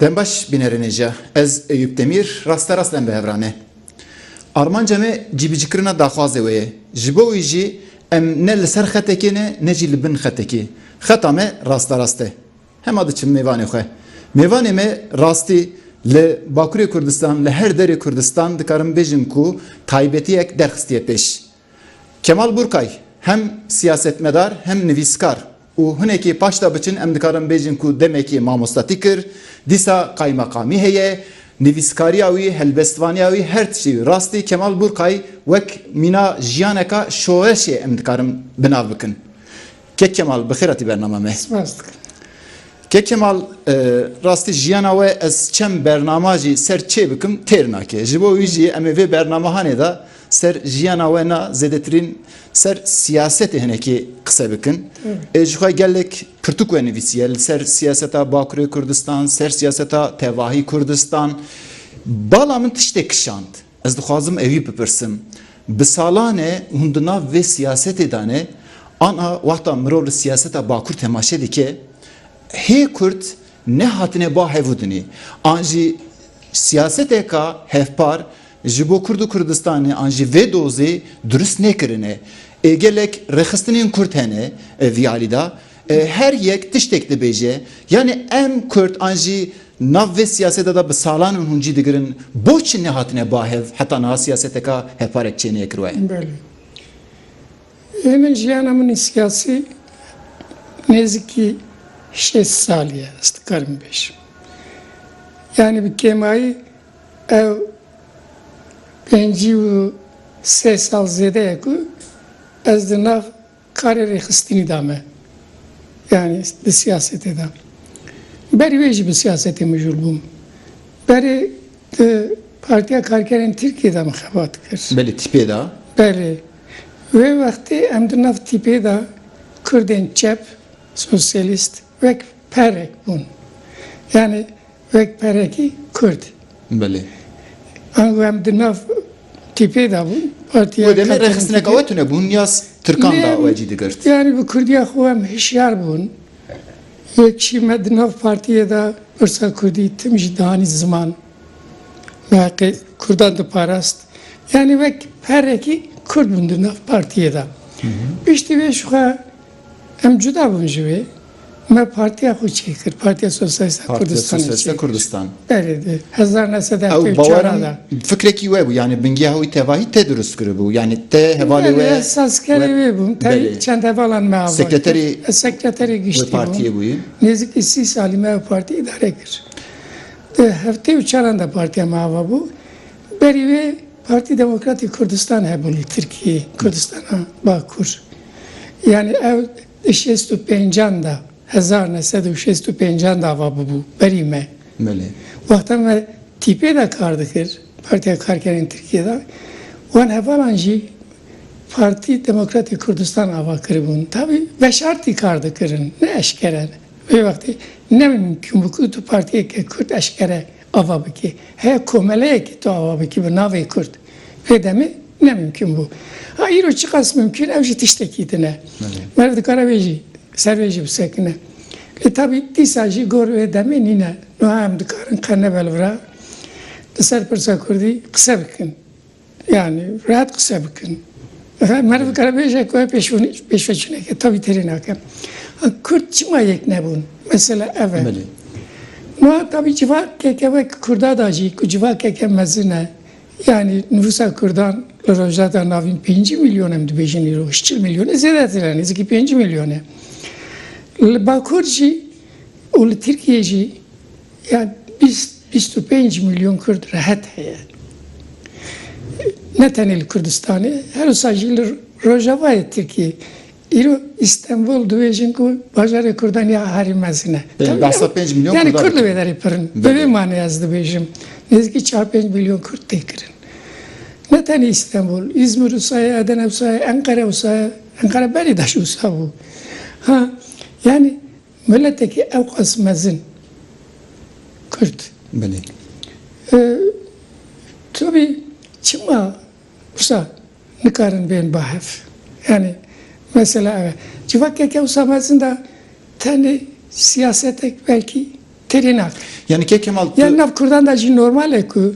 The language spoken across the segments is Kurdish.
Dem baş bînerênê jî ya. Ez Eyûp Demîr raste rast lem bi hev ra ne. Armanca me cîbicikirina daxwazê wê ye. Ji bo wî jî em ne li ser xetekê ne ne jî li bin xetekê. Xeta me rasterast e. Hema diçim mêvanê xwe. Mêvanê me rastî li Bakurê Kurdistan, li her derê Kurdistan dikarim bêjim ku taybetiyek derxistiye pêş. Kemal Burkay, hem siyasetmedar hem nivîskar û hinekê paş de biçin em dikarin bêjin ku demekê mamostatî kir, dîsa qaymeqamî heye, nivîskariya wî, helbestvaniya wî her tiştî wî. Rastî Kemal Burkay wek mîna jiyaneka şoreşê em dikarin bi nav bikin. Kek Kemal bi xêr hatî bernama me. Spas dikim. Kek Kemal rastî jiyana we ez çem bernama jî ser çê bikim têr nake. Ji bo wî jî em ê vê bernamahanê de ser jiyana we na zêdetirîn ser siyasetê hinekê qise bikin. Ê ji xwe gelek pirtûk we nivîsiye li ser siyaseta Bakurê Kurdistan, ser siyaseta tevahî Kurdistan. Bala min tiştê kişand. Ez dixwazim ewî bipirsim, bi salan e hûn di nav vê siyasetê de ne, ana wexta mirov li siyaseta bakur temaşe dike, hê kurd nehatine ba hev û dinê, an jî siyaseteka hevpar ji bo kurd û Kurdistanê an jî vê dozê dirust nekirine. Ê gelek rêxistinên kurd hene vî alî de. Her yek tiştek dibêje. Yanî em Kurd an jî nav vê siyaseta de bi salan in hûn cî digirin. Boçi nehatine ba hev heta niha siyaseteka hevparek çêneye kirwaye? Belê. Ê min jiyana min ê siyasî nêzikî şêst salî ye ez dikarim bêjim. Yanî bi kêmayî ew pêncî û sê sal zêde ye ku ez di nav Karê rêxistinî da me. Yanî di siyasetê de. Berî wê jî bi siyasetê mijûl bûm. Berê di Partiya Karkerên Tirkiyê de min xebat kir. Belê tîpê de? Belê. Wê wextê em di nav tîpê de kurdên çep, sosyalîst wek perek bûn. Yanî Wek perekî Kurd. Belê. An ku em di nav tîpê de bûn, partiya Wê demê rêxistineka we tune bûn ya Tirkan da we cî digirt? Yanî bi Kurdiya xwe em hişyar bûn. Yek jî me di nav partiyê de pirsa Kurdî tim jî dihanî ziman. Me heqê Kurdan diparast. Yanî wek perekî Kurd bûn di nav partiyê de. Piştî vê jixwe Em cuda bûn ji wê. Me partiya xwe çêkir, Partiya Sosyalîst a Kurdistanê çêkir. Berê di hezar neh sed e heftê û çar a de. Fikrekî we bû, yanî bingeha wî tevahî te dirust kiribû, yanî te hevalê we. Ez sazkerê wê bûm, te çend hevalan me ava kir. Ez sekreterê giştî bûm. Nêzîkî sî salî me ev partî îdare kir. Di heftê û çaran de partiya me ava bû. Berî wê Partî Demokratî Kurdistan hebûn li Tirkiyeyê, Kurdistana Bakur. Yanî ew di şêst û pêncan de, hezar neh sed û şêst û pêncan de ava bûbû berî me. Belê. Wexta me TP de kar dikir, Partiya Karkerên Tirkiyê de, wan hevalan jî Partî Demokratî Kurdistan ava kiribûn. Tabî veşartî kar dikirin, ne eşkere. Vê wextê ne mimkûn bû ku tu partiyeke Kurd eşkere ava bike. Heya komeleyekî tu ava bikî bi navê Kurd vê demê ne mimkûn bû. Ha îro çiqas mimkûn ew jî tiştekî din e. Meriv dikare vê jî ser vê jî bisekine. Lê tabî dîsa jî gor vê demê nîne. Nuha em dikarin qe ne belvira li ser pirsa Kurdî qise bikin. Yani rahat kısa bikin. Mesela Merve evet. Karabeyşe koya peşveçine ki tabi terin hakem. Kürt çima yek nebun? Mesela evet. Meli. Ma tabi civa kekeve Kürda da jî ku civa keke mezine yani nüfusa Kürdan li Rojda navîn 5 milyon em dibêjin îro 40 milyon e zêdetir e nêzîkî 5 milyon e. Li Bakur jî û li Tirkiye jî Ya bîst, bîst û pênc milyon Kurd rehet heye. Ne tenê li Kurdistanê, her wisa jî li rojavayê Tirkiyê. Îro Îstenbul dibêjin ku bajarê Kurdan ya herî mezin e. Belê, behsa pênc milyon Kurdan dikin. Yani Kurd li vê derê pir in. Bi vê manê ez dibêjim. Nêzîkî çar pênc milyon Kurd tê kirin. Ne tenê Îstenbul, Îzmir wisa ye, Edene wisa ye, Enqere wisa ye. Enqere belê daş wisa bû. Ha, yani. Miletekî ewqas mezin, Kurd. Belê. Tabî çima wisa nikarin bên ba hev? Yanî mesela ev e. Civakeke wisa mezin de tenê siyasetek belkî têrê nake. Yanî Kek Kemal tu. Yan nav Kurdan de jî normal e ku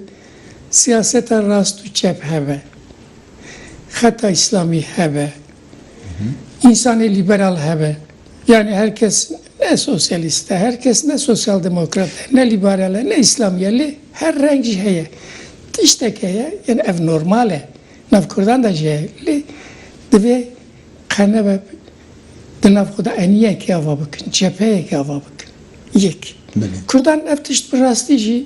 siyaseta rast û çep hebe. Xeta îslamî hebe. Însanê lîberal hebe. Yanî her kes ne sosyalîst e, her kes ne sosyaldemokrat e, ne lîberal e, ne îslamî e lê her reng jî heye. Tiştek heye, yanî ev normal e. Nav kurdan de jî heye. Lê divê qe nebe di nav xwe de eniyekê ava bikin, cepheyekê ava bikin. Yek. Kurdan ev tişt bi rastî jî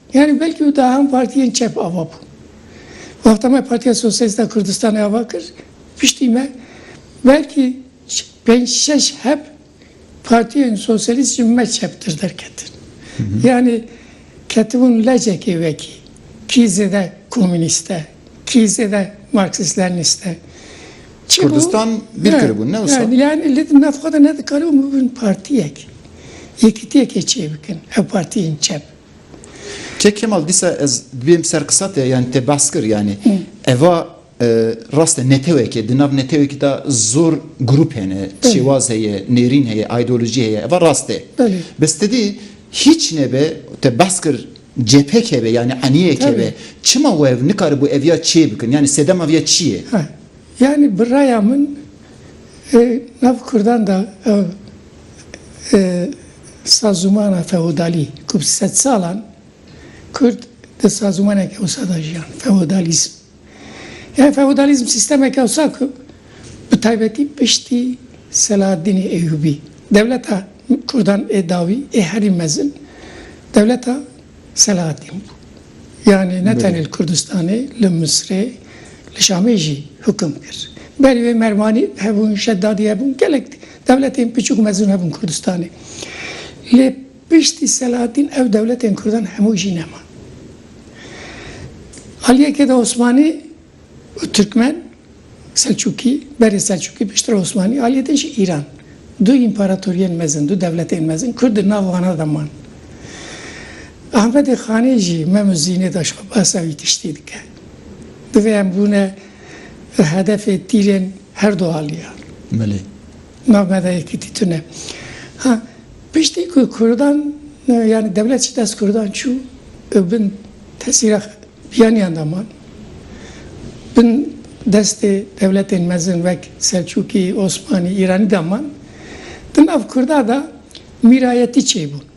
Yanî belkî wita hem partiyên çep ava bûn. Wexta me Partiya Sosyalîst a Kurdistanê ava kir, piştî me belkî pênc şeş hep partiyên sosyalîst ji me çeptir derketin. Yanî ketibûn lecekê wekî, kî zêde komînîst e, kî zêde marksîst-lenînîst e. Çi bû? Kurdistan bîr kiribûn ne wisa? Yanî li nav xwe de nedikaribûn bibin partiyek, yekîtiyekê çêbikin, ew partiyên çep. Kek Kemal dîsa ez dibêm ser qisa te yanî te behs kir yanî eva rast e netewekê di nav netewekî de zor grûp hene, şêwaz heye, nêrîn heye, aydolojî heye eva rast e. Bes te dî hîç nebe te behs kir CPK be yanî eniyeke be çima we nikaribû ev ya çê bikin yanî sedema vê ya çi ye? Yanî bi raya min nav kurdan de Sazûmana feodalî ku bi sedsalan Kurd di sazûmaneke wisa de jiyan, feodalîzm. Yê feodalîzm sîstemeke wisa ku bi taybetî piştî Selahaddînê Eyyûbî, dewleta Kurdan ê dawî ê herî mezin dewleta Selahaddîn bû. Yanî ne tenê li Kurdistanê, li Misrê, li Şamê jî hukum kir. Berî wê Merwanî hebûn, Şeddadî hebûn, gelek Dewletên piçûk mezûn hebûn Kurdistanê. Lê piştî Selahaddîn ew dewletên Kurdan hemû jî neman. Aliyekê de Osmanî û Tirkmen, Selçûkî, berê Selçûkî piştre Osmanî, aliyê de jî Îran. Du împaratoriyên mezin, du dewletên mezin Kurd di nav wana de man. Ahmedê Xanê jî Mem û Zînê de xwe behsa wî tiştî dike. Divê em bûne. Hedefê tîrên her du aliyar. Belê. Navbe de yekîtî tune. Ha piştî ku kurdan yani dewlet ji dest kurdan çû ew bin tesîra biyaniyan de man. Bin destê dewletên mezin wek Selçûkî, Osmanî, Îranî de man. Di nav kurda de mîrayetî çêbûn.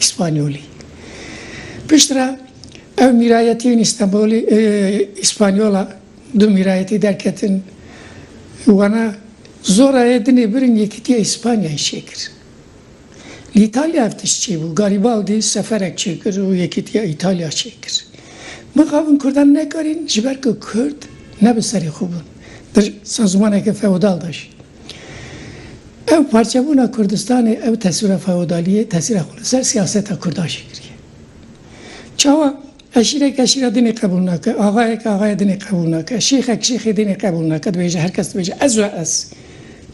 Îspanyolî. Piştre ew mîrayetî yên Îstenbolî, Îspanyola du mîrayetî derketin. Wana Zorayê dinê birin Yekîtiya Îspanyayê çêkir. Li Îtalya ev tişt çêbû. Garîbaldî seferek çêkir û Yekîtiya Îtalya çêkir. Mixabin Kurdan nekarîn ji ber ku Kurd ne bi serê xwe bûn. Di sazmaneke feodal de jîn. Ev parçebûna Kurdistanê, ev teswîra feodaliyê, tesîra xwe li ser siyaseta Kurdan jî kiriye. Çawa? Eşîrek eşîra din ê qebûl nake, axayek axaya din ê qebûl nake, şêxek şêxê din ê qebûl nake, dibêje her kes dibêje ez we ez.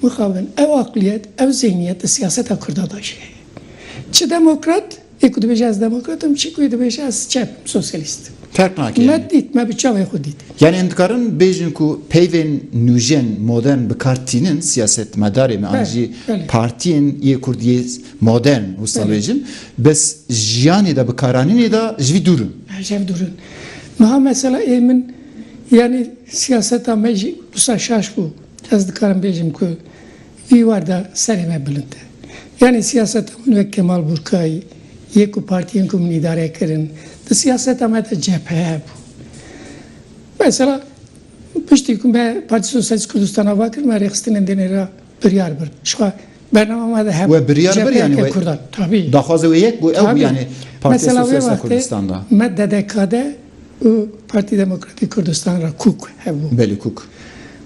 Mixabin ew aqliyet, ew zîhniyet di siyaseta Kurdan de jî heye. Çi demokrat, Yê ku dibêje ez demokrat im, çî ku yê dibêje ez çep im, sosyalîst im. Ferq nake Me yani. dît, me bi çavên xwe dît. Yani em dikarin bêjin ku peyvên nûjen, modern bi kar tînin siyasetmedarê me an jî Belê, belê. partiyên yê kurd yê modern wisa Belê. bêjin, bes jiyanê de bikaranînê de ji vî dûr in. Ji hev dûr in. Niha mesela ê min yanî siyaseta me jî wisa şaş bû. Ez dikarim bêjim ku Dîwar da serê me bilind e. Yanî siyaseta min wek Kemal Burkayî yê ku partiyên ku min îdare kirin di siyaseta me de cephe bû. Mesela piştî ku me Partî Sosyalîst Kurdistana va kir me rêxistinên dinê ra biryar birin. Jixwe bernama ma de hebû. We biryar bir yanî we daxwaza wê yek bû ew bû yanî Partiya Sosyalîsta Kurdistan da. Mesela wê wextê me DDK'de û Partî Demokratîk Kurdistan ra kûk hebû. Belê kûk.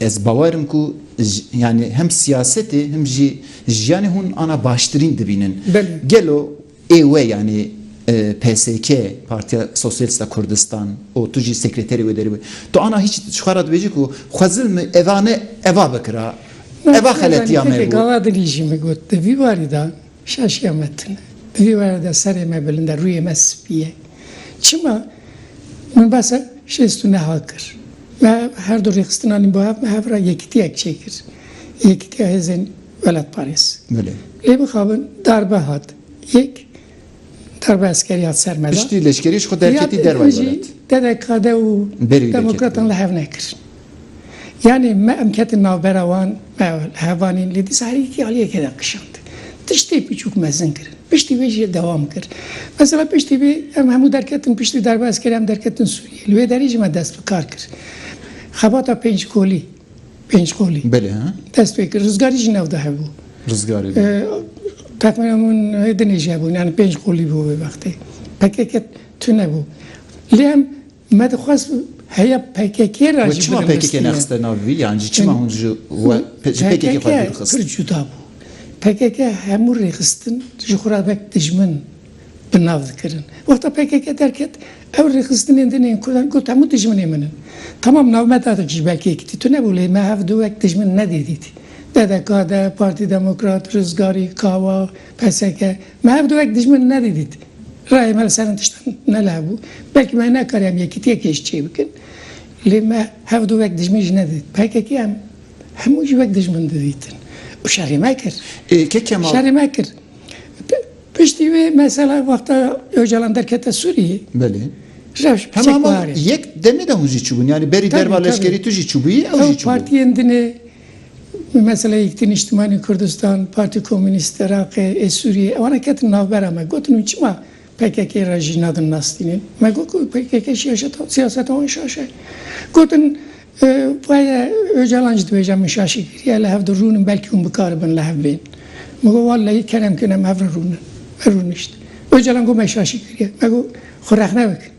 Ez bawer im ku yanî hem siyasetê hem jî jiyanê hûn ana baştirîn dibînin. Gelo ê we yanî PSK, Partiya Sosyalîst a Kurdistan û tu jî sekreterê wê derve tu ana hîç ji xwe re dibêjî ku xwe zilm eva ne eva bikira, eva xeletiya me bû. Gava din jî min got di vî warî de Şaş ya me tune. Di vî were de serê me bilind e, rûyê me spî ye. Çima? Min basa şêst û neh a kir. Me her du rêxistina nîn bo hev, me hev re yekitiyek çêkir. Yekitiya hêzên welatparêz. Belê. Lê mixabin darbe hat. Yek darbe eskerî hat ser me de. Piştî leşkerî ji xwe derketî dervayê welat. Piştî jî TDK'de û demokratan li hev nekirin. Yanî me em ketin navbera wan, me hevanîn lê dîsa her yekî aliyekê de kişand. Tiştê piçûk mezin kirin. Piştî wê jî dewam kir. Mesela piştî wê em hemû derketin piştî derbaskerê em derketin Sûriyê. Li wê derê jî me dest bi kar kir. Xebata pênc kolî, pênc qolî, dest pê kir. Rizgarî jî navda hebû. Rizgarî bû. Texmîna min hêdinê jî hebûn. Yanî pênc qolî bû wê wextê. Pkk tune bû. Lê em Me dixwest heya pkk ra jî birinivîstiye. Wê çima pkk nexiste nav vî? Yan jî çima hûn ji we ji pkk xwe dûr xist? Pir cuda bû. Pkk hemû rêxistin ji xwe ra wek dijmin bi nav dikirin. Wexta pkk derket ew rêxistinên din ên Kurdan got hemû dijminên min in. Tamam navme Dadek jî belkî yekitî tune bû lê me hev du wek dijmin nedî dît. DDK, DEM, Partî Demokrat, Rizgarî, Kawa, PSK. Me hev du wek dijmin nedîdît. Rayê me li ser hin tiştan nelabû. Belkî me nekariyam yekîtiyek hêj çêbikin. Lê me hev du wek dijmin jî nedîdît. Pkk em hemû jî wek dijmin didîtin û şerê me kir. Şerê me kir. Piştî wê mesela wexta Ocalan derkete Sûriyê. Belê. Rewş bi çek warê. Hema yek demê de hûn jî çûbûn. Yanî berî derva leşkerî tu jî çûbûyî, ew jî çûbûn. Ew partiyên din ê. Bi mesela Yekîtî Nîştimanî Kurdistan, Partî Komûnîst Iraqê ê Sûrîyê ewan e ketin navbera me. Gotin hûn çima pkk re jî nadin nastînên? Me got ku pkk şîyaşeta sîyaseta wan şaş e. Gotin vaye Ocalan jî dibêje min şaşî kiriye li hev di rûnin belkî hûn bikaribin li hev bên. Min got walleyî kerem kin em hev re rûnin. Rûnişt. Ocalan got me şaşî kiriye. Me got xwe rexne bikin.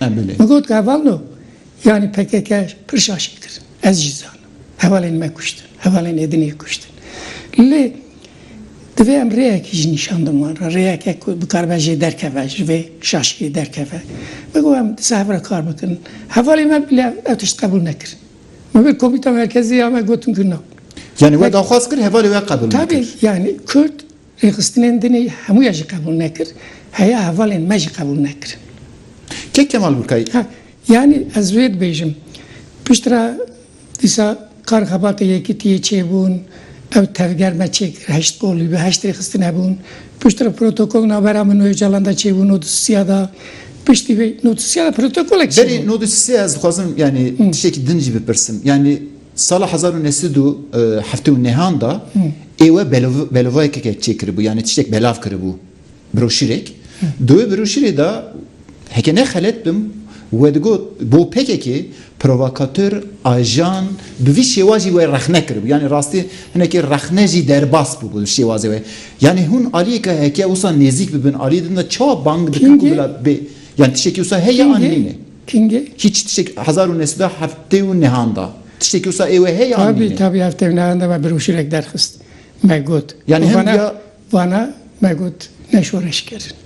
Min got ku heval no yanî pkk pir şaşî kir. Ez jî zanim. Hevalên me kuştin. Hevalên Êdinê kuştin. Lê divê em rêyekî jî nîşan din wan re. Rêyeke ku bikaribe jê derkeve, ji vê şaşiyê derkeve. Min got em disa hev re kar bikin. Hevalên me bila ev tişt qebûl nekirin. Min bir komîta merkezî ya me gotin ku na. Yanî we daxwaz kir hevalê we qebûl nekir. Tabî yanî Kurd Rêxistinên din ê hemû ya jî qebûl nekir. Heya hevalên me jî qebûl nekirin. Kê Kemal Burkayî? Ha, yanî ez vê dibêjim. Piştre dîsa kar xebatê Yekîtiyê çêbûn, ew tevger me çêkir, heşt bolî bi heşt rêxistin hebûn. Piştre protokol navbera min û Ocalan de çêbû nod û sisiya de. Piştî vê nod û sisiya de protokolek çêbû. Berê nod û sisiya ez dixwazim yanî tiştekî din jî bipirsim. Yanî Sala hezar û neh sed û heftê û nehan de êwe belovayekeke çêkiribû yanî tiştek belav kiribû broşîrek. Di wê broşîrê de heke ne xelet bim vedigot bo pkk provokator, ajan bi vî şêwajî wê rexne kiribû yanî rastî hinekî rexne jî derbas bûbû li şêwazê wê. Yanî hûn aliyeke heke wisa nêzîk bibin aliyê din de çawa bang dikin ku bila bê yanî tiştekî wisa heye an nîne. Kîngê hîç tiştek hezar û neh sed û heftê û nehan da. Tiştekî wisa ê wê heye yan Tabî, nîne? tabî heftê û nehan de me birûşîrek derxist. Me got. Yanî hem Vana, ya vana me got ne şoreş kirin.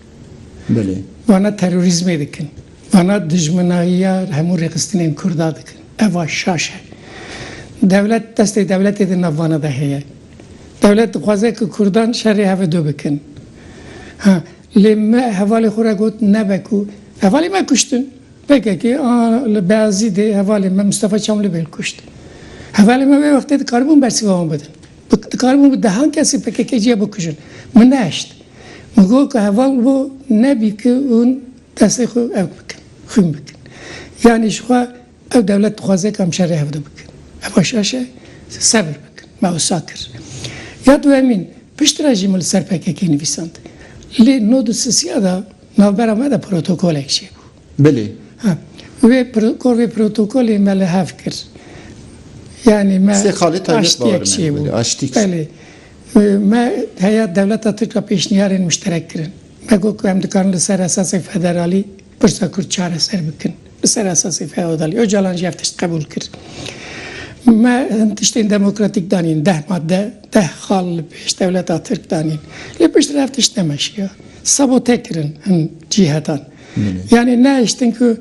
Belê. Vana terorîzmê dikin. Vana dijminayiya hemû rêxistinên kurda dikin. Eva şaş e. Dewlet, destê dewletê di nav vana de heye. Dewlet dixwaze ku kurdan şerê hevi du bikin. Ha, Lê me hevalê xwe re got nebe ku hevalê me kuştin. PKK a li Beyazîdê hevalê me Mistefa Çamlibêl kuşt. Hevalê me wê wextê dikaribûn bersiva wan bidin. Dikaribûn bi dehan kesê PKK'cî ya bikujin. Min nehişt. Min got ku heval bo nebî ku hûn destê xwe ew bikin, xwîn bikin. Yanî ji xwe. Ev dewlet dixwaze ka em şerê hevdu bikin. Eva şaş e, sebir bikin. Me wisa kir. Ya duhemîn, pişt re jî min li ser pkk nivîsand. Lê nod û sisiya de navbera me de protokolek çêbû. Bilê. Ha. Wê kor vê protokolê me li hev kir. Yanî me aştiyek çêbû. Belê. Me heya dewleta Tirk re pêşniyarên muşterek kirin. Me got ku em dikarin li ser esasek federalî. Pirsa Kurd çareser bikin. Li ser esasê feodalî. Ocalan jî ev tişt qebûl kir. Me hin tiştên demokratîk danîn. Deh madde, deh xal li pêş dewleta Tirk danîn. Lê piştre ev tişt nemeşiya. Sabote kirin hin cîhetan. Yanî nehiştin ku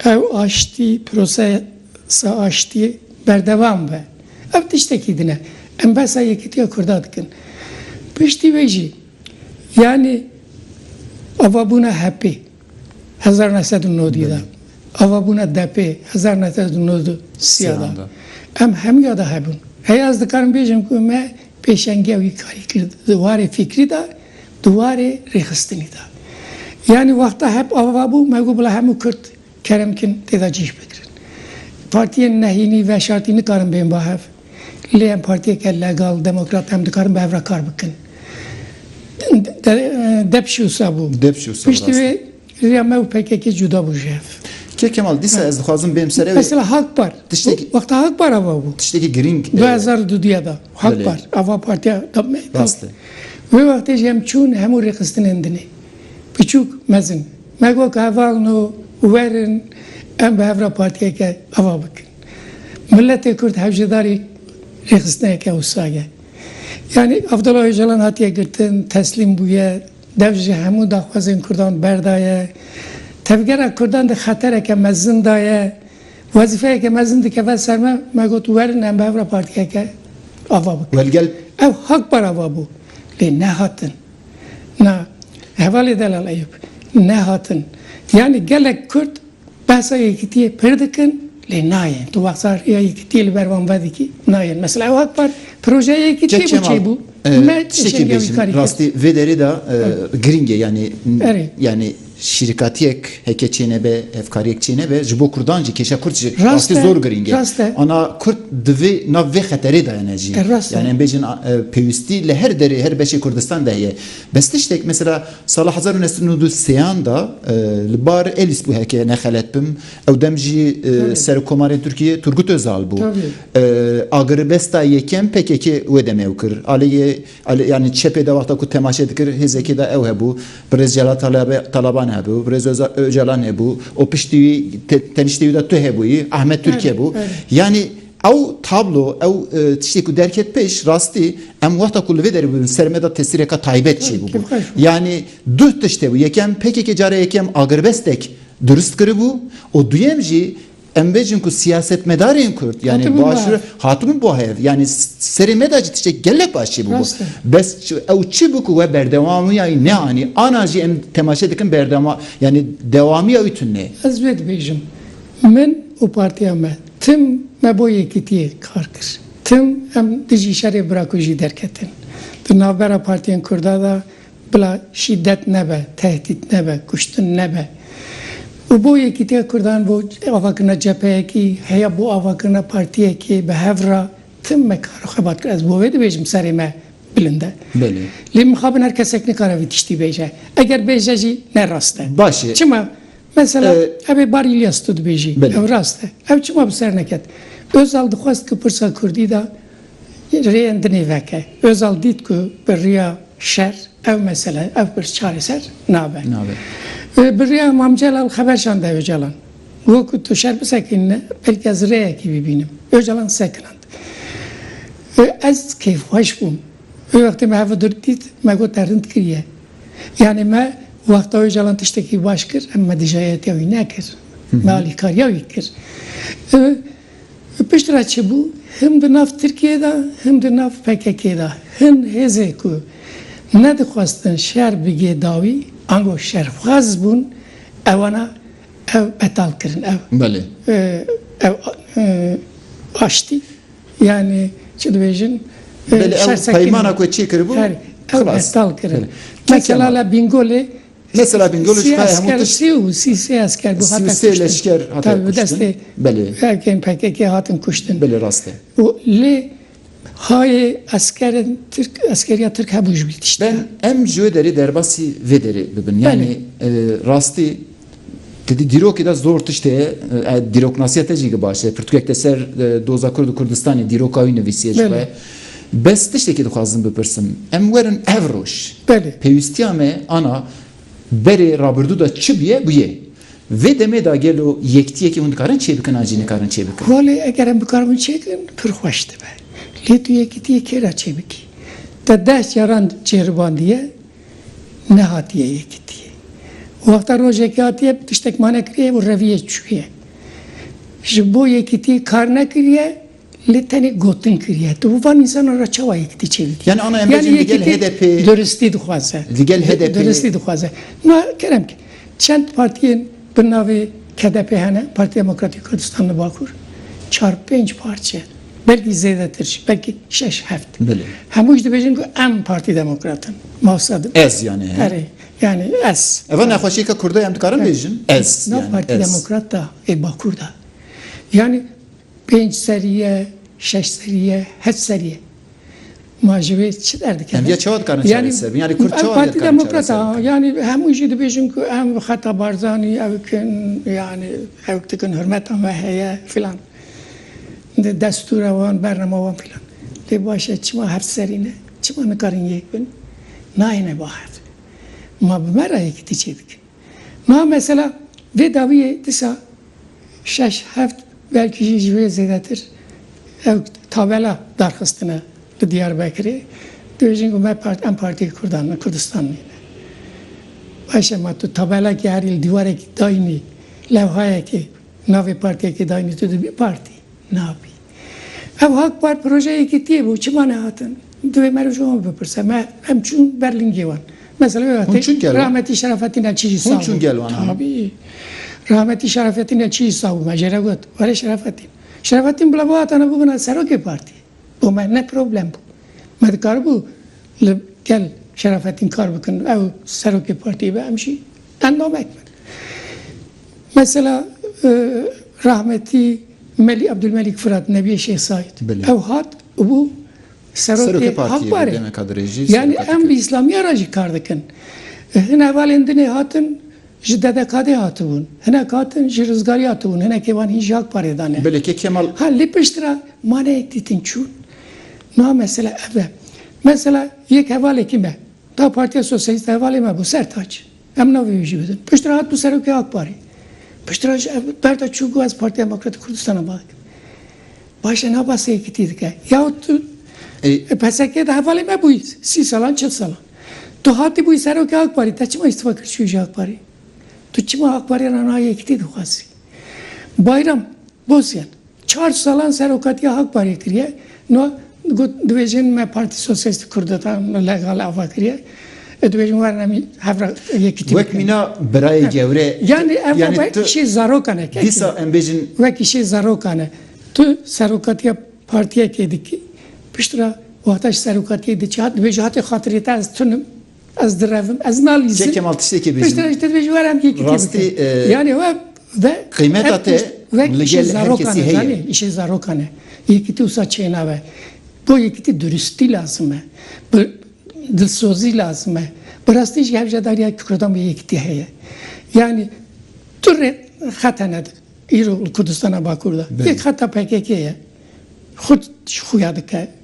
ew aştî, prosesa aştî berdewam be. Ev tiştekî din e. Em behsa yekitiya Kurda dikin. Piştî wê jî. Yanî avabûna HEP'ê hezar neh sed û nodî de, avabûna DEP'ê hezar neh sed û nod û sîya de em hemûya de hebûn. Heye ez dikarim bêjim ku me pêşengiya wî karî kir di warê fîkrî de, di warê rêxistinî de. Yanî wexta HEP avabû me got bila hemû Kurd Kerem kin tê de cih bigirin. Partiyên nehînî veşartî nikarin bên ba hev. Lê em partiyeke legal, demokrat em dikarin bi hev re kar bikin. Depş wisa bû. Depş wisa bû. Piştî wê rêya me û pkk cuda bû ji hev. Kêk Kemal, dîsa ez dixwazim bêm serê wê. Mesela Hak Par. Tiştekî. Wexta Hak Par ava bû. Tiştekî girîng. Du hezar û dudû ya de. Hak Par ava partiya DEM'ê. Rast e. Wê wextê jî em çûn hemû rêxistinên dinê. Biçûk, mezin. Me got ku heval no werin em bi hev re partiyeke ava bikin. Miletê Kurd hevjêdarî rêxistineyeke wisa ye. Yanî Abdullah Ocalan hatiye girtin, teslîm bûye, dev ji hemû daxwazên Kurdan berdaye. Tevgera Kurdan di xetereke mezin de ye. Wezîfeyeke mezin dikeve ser me, me got werin em bi hev re partiyeke ava bikin. Ew hak bar ava bû lê nehatin. Na, hevalê Delal Eyûb nehatin. Yanî gelek Kurd behsa yekitiyê pir dikin lê nayên. Tu behsa rêya yekitiyê li ber wan vedikî nayên. Mesela ew ak par projeya yekitiyê bû çêbû. Me tiştekî bêjim rastî vê derê de girîng e yanî yanî. Şîrkatiyek heke çênebe, hevkariyek çênebe ji bo kurdan jî, kêşa kurd ji rastî zor girîng e. Ana kurd divê nav vê xeterê de ne jî. Yanî em bêjin pêwîstî li her derê, her beşê Kurdistan de heye. Bes tiştek mesela sala hezar û neh sed û nod û sê an de li bar Elîs bû heke nexelet bim. Ew dem jî Serokomarên Tirkiyê Turgut Ozal bû. Agiribesta yekem pkk wê demê ew kir. Aleyê Elî yanî çepê de wexta ku temaşe dikir hêzekê de ew hebû, Birêz Celal Talaban hebû, Birêz Ocalan hebû û piştî wî teniştê wî de tu hebûyî, Ahmet Tûrk hebû. Yanî ew tablo, ew tiştê ku derket pêş rastî em wexta ku li vê derê bûbin ser me de tesîreke taybet çêbûbû. Yanî duh tişt hebû, yekem pkk cara yekem agirbestek dirust kiribû û duyem jî, Em bêjin ku siyasetmedarên Kurd yanî başûr hatibûn bo hev yanî serê me de jî tiştek gelek başî bû bo. Bes ew çi bû ku we berdewamiya wî neanî. Ana jî em temaşe dikin berdewama yanî dewamiya wî tune. Ez vê dibêjim. Min û partiya me tim me bo yekîtiyê kar kir. Tim em dijî şerê birakujî derketin. Di navbera partiyên Kurda de Bila şîdet nebe, tehdît nebe, kuştin nebe. Û bo Yekîtiya Kurdan, bo avakirina cepheyekî, heya bo avakirina partiyekê bi hev re tim me kar û xebat kir. Ez bo vê dibêjim serê me bilind e. Lê mixabin her kesek nikare vî tiştî bêje. Eger bêje jî ne rast e. Baş e. Çima? Mesela ev ê bar Îlyas tu dibêjî. Ew rast e. Ew çima bi ser neket? Ozal dixwest ku pirsa kurdî de Rêyên di nîveke Ozal dît ku bi riya şer ev mesele, ev pirs çareser nabe. Bi riya Mam Celal xeber şande Ocalan. Got ku tu şer bisekinîne belkî ez rêyekî bibînim. Ocalan sekinand. Ez keyfxweş bûm. Wê wextê me hev dir dît me got te rind kiriye. Yanî me wexta Ocalan tiştekî baş kir em me dijayetiya wî nekir. Me alîkariya wî kir. Li pişt re çi bû? Him di nav Tirkiyeyê de him di nav PKK'ê de hin hêzên ku nedixwestin şer bigê dawî ango şerxwaz bûn ewana ew betal kirin ew Belê. ew aştî yanî çi dibêjin Belê ew şer sekinî. peymana ku çêkiribû, ew xilas. betal kirin. Mesela li Bingolê Mesela Bingöl Sil Kaya hemû esker, tişt sî û sî sê esker got sil hate sê kuştin. leşker hate Tabi bi kuştin. destê Belê. erkên pkk hatin kuştin. Belê rast e. Û lê hayê eskerin Tirk eskeriya Tirk hebûn ji wî tiştî Ben ya. em ji wê derê derbasî vê derê bibin. Belê. Yanî rastî tu di dîrokê de zor tişt heye. Dîroknasiya te jî gi baş e. Pirtûkek te ser doza Kurd û Kurdistanê dîroka wî nivîsiye ji xwe. Belê. Bes tiştekî dixwazim bipirsim, em werin ev roj. Belê. Pêwîstiya me ana berê rabirdû de çi bûye, bûye. Vê demê de gelo yektiyekî hûn dikarin çêbikin an jî nikarin çêbikin? Walê eger em bikaribin çêbikin pir xweş dibe. Lê tu yekitiyê kê re çêbikî? Te deh caran cêribandiye nehatiye yekitiyê. Wexta rojekê hatiye tiştek ma nekiriye û reviye çûye. Ji bo yekitiyê kar nekiriye. Lê tenê gotin kiriye. Tu bi van însanan re çawa yekitî çêdikî? Yani ana emre jin digel HDP. Duristî dixwaze. Digel HDP. Duristî dixwaze. Ma kerem ke çend partiyên bi navê KDP hene, Partî Demokratîk Kurdistan li Bakur, çar pênc parçe, belkî zêdetir jî, belkî şeş heft. Belê. Hemû jî dibêjin ku em Partî Demokrat in. Mafsad in. Ez yani. Erê. Yani ez. Eva nexweşiyeke Kurda em dikarin bêjin? Ez. Nav Partî Demokrat da ê Bakur da. Yani Pênc serî ye, şeş serî ye, heft serî ye. Ma ji wê çi derdikevin? Ya çawa dikarin çareser bin? Yanî Kurd çawa dikarin çareser bikin? Em Partî Demokratan a, yanî hemû jî dibêjin ku em bi xeta Barzanî ew kin, yanî ew dikin hurmeta me heye filan. Di destûra wan, bernama wan filan. Lê baş e çima heft serî ne? Çima nikarin yek bin? Nayêne ba hev. Ma bi me re yekitî çêdikin. Niha mesela vê dawiyê disa şeş, heft belkî jî ji wê zêdetir ew tabela darxistine li Diyarbekirê. Dibêjin ku me parti, em partiyê Kurdan in, Kurdistan nîn. Baş e ma tu tabelekê herî li dîwarekî dayînî, lewhayekê navê partiyekê dayînî tu dibî partî? Nabî. Ew hak par projeyê gîtiyê bû, çima nehatin? Divê me re ji wan bipirse. Me em çûn ber lingê wan. Mesela wê Hûn çûn gel wan? Rahmetî Şerafetîn Neçîyî Hûn çûn gel wan an? Tabî. Rahmetî Şerafetîn Neçîyî sawbû. Me jê re got, were Şerafetîn. Şerafetîn bila bihat ana bibina serokê partî. Bo me ne problem bû. Me dikaribû li gel Şerafetîn kar bikin. Ew serokê partî be em jî. Endamek bin. Mesela rahmetî Melî Ebdulmelîk Firat nebiyê Şêx Saîd. Ew hat û bû serokê Hak Parê. Yanî em bi îslamiya re jî kar dikin. Hin hevalên din ê hatin ji DDK'dê hatibûn. Hinek hatin ji Rizgarî hatibûn. Hinekê wan hîn ji Hak Parê de ne. Ha lê pişt re ma neyek dîtin çûn. Niha mesela ev e. Mesela yek hevalekî me. Da Partiya Sosyalîst hevalê me bû Sertaç. Em navê wî jî bidin. Piştre hat bû serokê AK Parê. Piştre ji ev berda çû got ez Partiya Demokrat a Kurdistana baz dikim. Baş e naba sê yekîtî dike. Yaw tu li PSK'ê de hevalê me bûyî sî salan çil salan. Tu hatî bûyî serokê AK Parê te çima îstifa kir çûyî ji AK Parê? Tu çima AK Parê re niha yekîtî dixwazî? Bayram Bozyan. Çar salan serokatiya hak parê kiriye. No got dibêjin me Partî Sosyalîstî Kurdetan legal ava kiriye. E dibêjin werin em hev re yekîtî bikin. Wek mîna birayê gewre. Yanî ev ava îşê zarokan e. Dîsa em bêjin. Wek îşê zarokan e. Tu serokatiya partiyekê dikî. Piştre wexta ji serokatiyê diçî hat dibêje hatê xatirê te ez tunim. Ez direvim, ez nalîzim. Çek Kemal tiştekê bêjim. Piştre ji te dibêjim were em yekî tê bikin. Yanê we ve qîmeta te li gel her kesî heye. Zanî îşê zarokan e. Yekîtî wisa çênabe. Bo yekîtî duristî lazim e. Bi dilsozî lazim e. Bi rastî jî hevjadariya Kurdan bi yekîtî heye. Yanî tu rê xet hene îro li Kurdistana Bakur de. Yek xeta PKK'ê ye. Xwe ji xuya dike.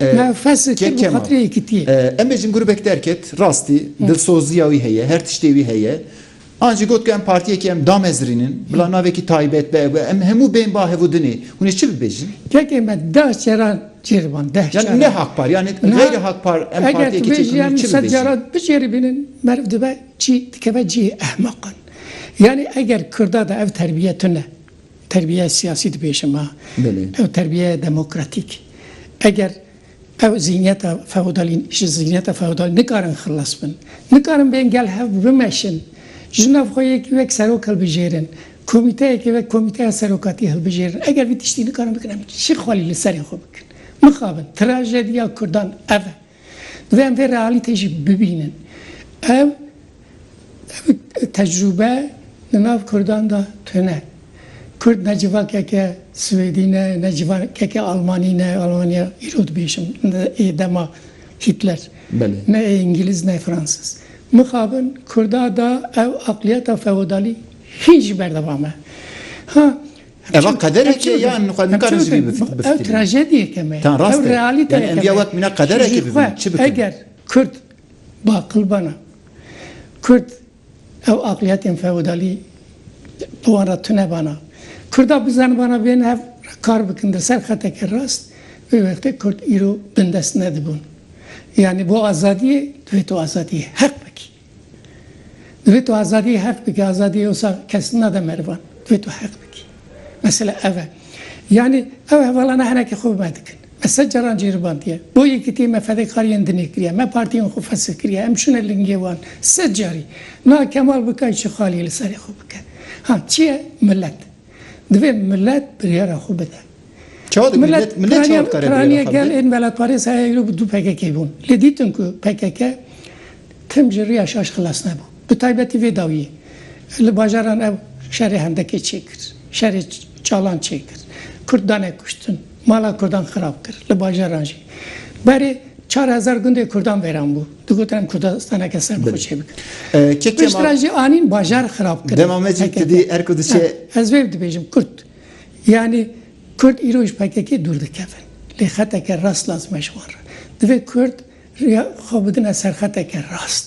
Na fes kir bi xatirê yekitiyê. Em ê jin grûbek derket, rastî dilsoziya wî heye, her tiştê wî heye. An jî got ku em partiyekî em damezirînin, bila navekî taybet be, ev be, em hemû bên ba hev û dinê. Hûn ê çi bibêjin? Kekê me deh caran cêriban, deh caran. Yani ne Hak Par, yani geyri Hak Par em partiyekî çêkirînin, çi bibêjin? Eger tu bêjî em sed caran bicêrîbînin, meriv dibe çî? Dikeve cihê ehmeqan. Yani eger Kurda de ev terbiyet tune. Terbiyeyê siyasî dibêje me. Ew terbiyeyê demokratîk. Eger ew zîhniyeta feodalî ji zîhniyeta feodalî nikarin xilas bin, nikarin bên gel hev bimeşin, ji nav xwe yekî wek serok hilbijêrin, komîteyekî wek komîteya serokatî hilbijêrin, eger vî tiştî nikarin bikin em çi xwelî li serê xwe bikin? Mixabin, trajediya kurdan ev e. Divê em vê realîtê jî bibînin. Ev tecrûbe li nav kurdan de tune. Kurd ne civakeke swêdî ne, ne civakeke almanî ne, almanya îro dibêjim ê dema Hitler, ne ê îngîliz ne fransiz. Mixabin kurda de ev aqliyeta feodalî hîn jî berdevam e. Ha Ev qederekê ye yan xwe nikarin ji vî bifitînin? Ev trajediyeke me ye. Ew realîteyeke me ye. Ji xwe eger Kurd baqil bana, Kurd ew aqliyetên feodalî bi wan re tune bana, Kurda bizanibana bên hev re kar bikin di ser xeteke rast, vê wextê Kurd îro bindest nedibûn. Yanî bo azadiyê divê tu azadiyê heq bikî. Divê tu azadiyê heq bikî, azadiyê wisa kes nade merivan, divê tu heq bikî. Mesela ev e. Yanî ew hevalana henekî xwe bi me dikin. Me sed caran cêribandiye. Bo Yekitiyê me fedekariyên din ê kiriye, me partiyên xwe fesil kiriye, em çûne lingê wan sed carî. Na Kemal Bikay çi xaliyê li serê xwe bike? Ha çi ye? Milet. Divê milet biryara xwe bide. Çawa dikir? Milet, milet çawa dikare biryara xwe bide? Piraniya gel ên Belatparê Seyê Eylû bi du pkk bûn. Lê dîtin ku pkk tim ji riya şaş xilas nebû. Bi taybetî vê dawiyê. Li bajaran ew şerê hendekê çêkir. Şerê çalan çêkir. Kurd dane kuştin. Mala Kurdan xirab kir. Li bajaran jî berê çar hezar gundê Kurdan vêran bû. Digotin em Kurdistaneke ser bi xwe çê bikin. Piştre jî anîn bajar xirab kirin. Dema me jî kidî erk û dişê. Ez vê dibêjim Kurd. Yanî Kurd îro ji PKK'ê dûr dikevin. Lê xeteke rast lazim e ji wan re. Divê Kurd riya xwe bidine ser xeteke rast.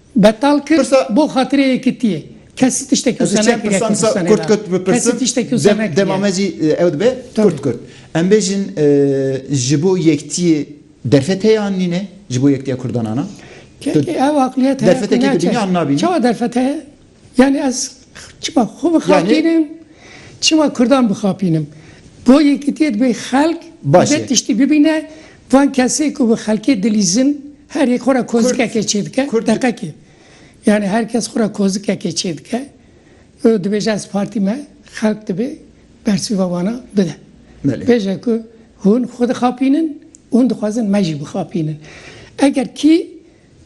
Betal kir bo xatirê yekitiyê. Kesî tiştekî wisa nekiriye Kurdistanê de. Kesî tiştekî wisa nekiriye. Dema me jî ew dibe kurt kurt. Em bêjin ji bo yektiyê derfet heye an nîne? Ji bo yektiya kurdan an a? Kekê ew aqliyet heye ku ne. Derfetekê di dinya an nabînî? Çawa derfet heye? Yanî ez çima xwe bixapînim, çima kurdan bixapînim. Bo yekitiyê dibê xelk li vê tiştî bibîne, van kesê ku bi xelkê dilîzin her yek xwe re kozikekê çêdike, deqekê. Yanî her kes xwe re kozikekê çêdike û dibêje ez partî me, xelk dibê bersiva wana bide. Bêje ku hûn xwe dixapînin û hûn dixwazin me jî bixapînin. Eger kî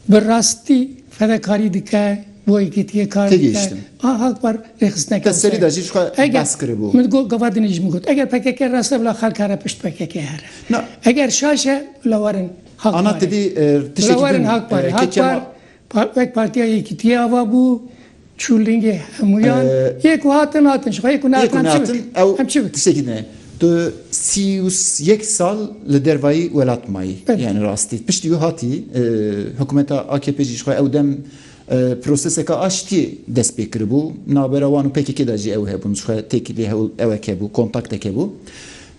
Bi rastî fedekarî dike bo yekîtiyê kar dike. Têgihiştim. A hak par rêxistineke Te wisa serî ye. de jî ji xwe Eger behs kiribû. min got gava dinê ji min got eger pkk rast e bila xelk here pişt pkk here. Na. Eger şaş e bila werin hak Ana par e. tu bî e, Bila tiştekî werin din hak par e. e. Hak Kemal. par wek Partiya Yekîtiyê ava bû. Çûlingê hemûyan yê ku hatin hatin ji xwe yê ku nehatin em çi bikin? Tu sî û yek sal li dervayî welat mayî yanî rastî piştî wî hatî hikûmeta AKP'ê jî ji xwe ew dem proseseke aştiyê dest pê kiribû navbera wan û pkk de jî ew hebûn ji xwe têkilî ewek hebû kontaktek hebû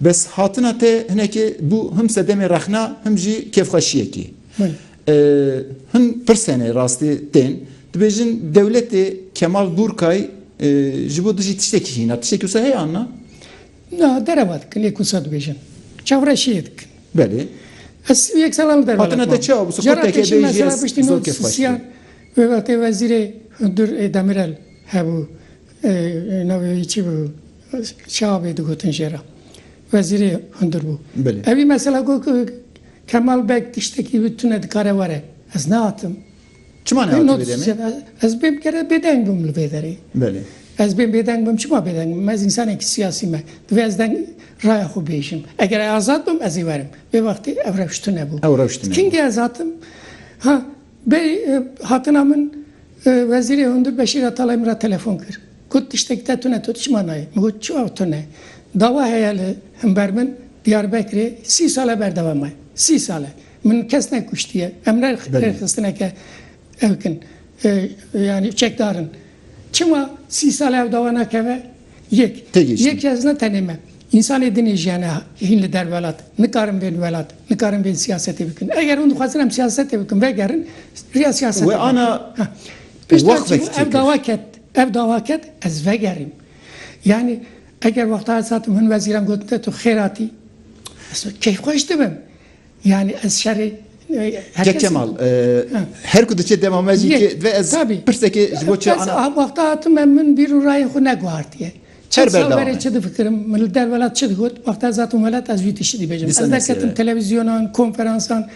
bes hatina te hinekê bû him sedemê rexna him jî kêfxweşiyekê. Hin pirsenê rastî tên. Dibêjin dewletê Kemal Gurkay ji bo dijî tiştekî hîna. Tiştekî wisa heye anna? Na derewa dikin lê kusa dibêjin. Çavreşiyê dikin. Belê. Ez sî û yek salan li derewa dikim. Hatine te çi abû? Jara te jî mesela piştî no sisiyan wê wextê wezîrê hundir ê Demirel hebû navê wî çi bû çi abê digotin jê re. Wezîrê hundir bû. Belê. Ewî mesela got ku Kemal Beg tiştekî wî tune dikare were. Ez nehatim. Çima nehatî vê demê? Ez bê bikere bêdeng bim li vê derê. Belê. Ez bê bêdeng bim çima bêdeng bim? Ez însanekî siyasî me. Divê ez deng raya xwe bêjim. Eger ez azad bim ez ê werim. Vê wextê ev rewş tune bû. Ew rewş tune bû. Kîngî ez hatim? Ha Bê hatina min Wezîrê Hundir Beşîr Atalay min re telefon kir. Got tiştekî te tune, tu çima nayê? Min got çawa tune? Dawa heye li himber min Diyarbekirê sî sale berdewam maye. Sî sale. Min kes nekuştiye. Em ne rêxistineke ew kin. Yanî çekdar in. Çima sî sale ew dawa nakeve? Yek. Têgihiştin. Yek ez ne tenê me. Însanê din ê jiyane hîn li der welat. Nikarin bên welat. Nikarin bên siyasetê bikin. Eger hûn dixwazin em siyasetê bikin vegerin riya siyasetê vegerin. We ana wexvek tê kir. Ev dawa ket. Ev dawa ket ez vegerîm. Yanî eger wexta ez hatim hin wezîran gotin te tu xêr hatî. Ez keyfxweş dibim. Yanî ez şerê Kek Kemal, her ku diçe dema me jî tê divê ez pirsekê ji bo çi ana. Ez wexta hatime min bîr û rayên xwe neguhartiye. Çend sal berê çi difikirim, min li derwelad çi digot, wexta ez hatim welat ez wî tiştî dibêjim. Ez derketim televîzyonan, konferansan,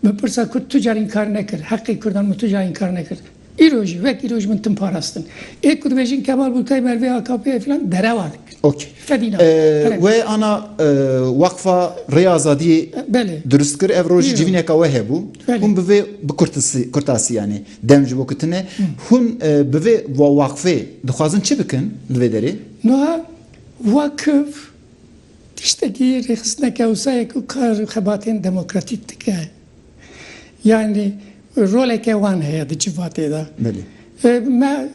min pirsa ku tu carî înkar nekir, heqê kurdan min tu carî înkar nekir. Îro jî wek îro ji min tim parastin. Ê ku dibêjin Kemal Bulkay merivê AKP'ê filan derewa dikin. Ok. Fedî nabe. Perem. Wê ana Weqfa Rêya Azadiyê Belê. dirust kir. Ev roj civîneka we hebû. Belê. Hûn bi vê bi kurtisî kurtasî yanî dem ji bo ku tune. Hûn bi vê weqfê dixwazin çi bikin li vê derê? Nuha Weqf tiştekî rêxistineke wisa ye ku kar û xebatên demokratîk dike. Yanî roleke wan heye di civatê de. Me